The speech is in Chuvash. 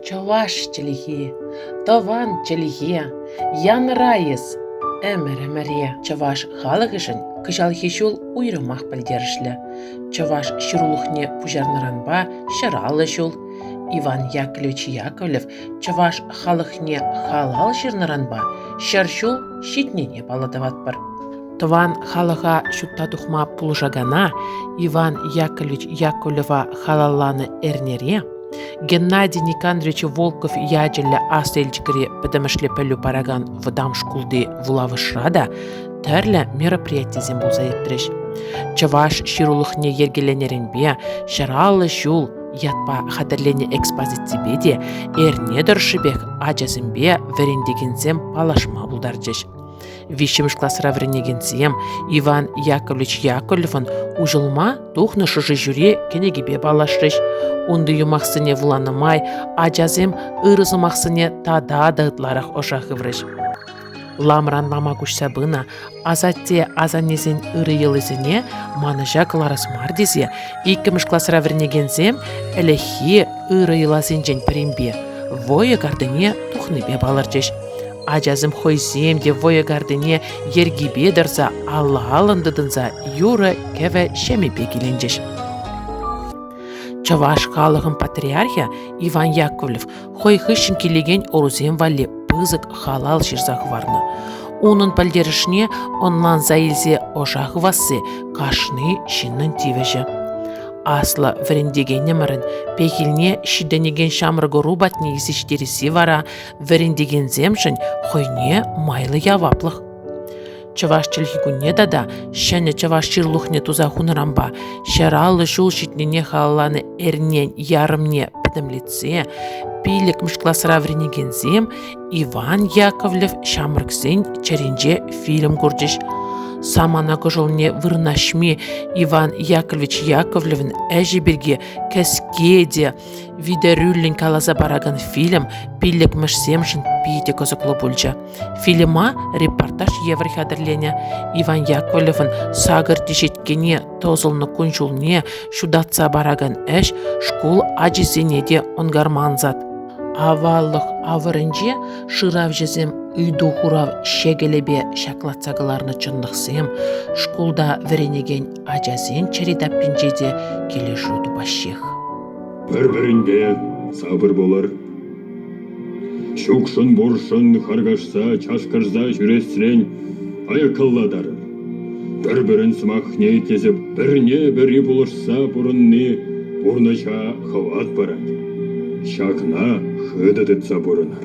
Чӑваш чӗлхи, тӑван чӗлхе, янӑрайӑс ӗмӗр-ӗмӗре чӑваш халӑхӗшӗн кӑҫалхи ҫул уйрӑмах пӗлтерӗшлӗ. Чӑваш ҫырулӑхне пуҫарнӑранпа ҫӑраллӑ ҫул. Иван Яковлевич Яковлев чӑваш халӑхне халал ҫырнӑранпа ҫӗр ҫул ҫитнине паллӑ тӑватпӑр. Тӑван халӑха ҫутта тухма пулӑшакана Иван Яковлевич Яковлева халалланӑ эрнере Геннадий Никандрович Волков ячӗллӗ Аслӑ Елчӗкри пӗтӗмӗшле пӗлӳ паракан вӑтам шкулти вулавӑшра та тӗрлӗ мероприятисем пулса иртрӗҫ. Чӑваш ҫырулӑхне йӗркеленӗренпе «Ҫӑраллӑ ҫул» ятпа хатӗрленӗ экспозиципе те эрне тӑршшӗпех ачасемпе вӗрентекенсем паллашма пултарчӗҫ. виҫҫӗмӗш класра вӗренекенсем Иван Яковлевич Яковлевӑн уҫӑлма тухнӑ шӑши ҫӳре кӗнекипе паллашрӗҫ. Унти юмахсене вуланӑ май ачасем ырӑ сӑмахсене тата та ытларах ӑша хыврӗҫ. Ламран лама куҫса пынӑ асатте асаннесен ырӑ йӑлисене манӑҫа кӑларас мар тесе иккӗмӗш класра вӗренекенсем ӗлӗкхи ырӑ йӑласенчен пӗринпе войӑ картине тухнипе палӑрчӗҫ. Ачасем хӑйсем те вӑйӑ картине йӗркипе тӑрса алла-аллӑн тытӑнса юрӑ-кӗвӗ ҫемӗпе киленчӗҫ. Чӑваш халӑхӑн патриархӗ Иван Яковлев хӑй хыҫҫӑн килекен ӑрусем валли пысӑк халал ҫырса хӑварнӑ. Унӑн пӗлтерӗшне ӑнланса илсе ӑша хывасси кашни ҫыннӑн тивӗҫӗ. Аслӑ вӗрентекенӗмӗрӗн пехилне ҫитӗнекен ҫамрӑк ӑру патне ҫитересси вара вӗрентекенсемшӗн хӑйне майлӑ яваплӑх. Чӑваш чӗлхи кунне тата ҫӗнӗ чӑваш ҫырлухне туса хунӑранпа ҫӗр аллӑ ҫул ҫитнине халалланӑ эрнен ярӑмне пӗтӗмлетсе пиллӗкмӗш класра вӗренекенсем Иван Яковлев ҫамрӑксен чӗринче фильм курчӗҫ. Самана кӑшӑлне вырнаҫми Иван Яковлевич Яковлевӑн ӗҫӗ пирки кӗске те Витӗрӳллӗн каласа паракан фильм пиллӗкмӗшсемшӗн питӗ кӑсӑклӑ пулчӗ. Фильма репортаж евӗр хатӗрленӗ. Иван Яковлевӑн сакӑр теҫеткене тӑсӑлнӑ кун-ҫулне ҫутатса паракан ӗҫ шкул ачисене те ӑнкарма ансат. Аваллӑх авӑрӗнче шыравҫӑсем ыйту-хурав ҫекӗлӗпе ҫаклатса кӑларнӑ чӑнлӑхсем, шкулта вӗренекен ачасем чӗри таппинче те килӗшӳ тупаҫҫех. Пӗр-пӗринпе сапӑр пулӑр. Чукшӑн-буршӑн харкашса, чашкӑрса ҫӳресрен аяккаллатар. Пӗр-пӗрин сӑмахне итлесе пӗрне-пӗри пулӑшса пурӑнни пурнӑҫа хӑват парать. Ҫакна хытӑ тытса пурӑнар.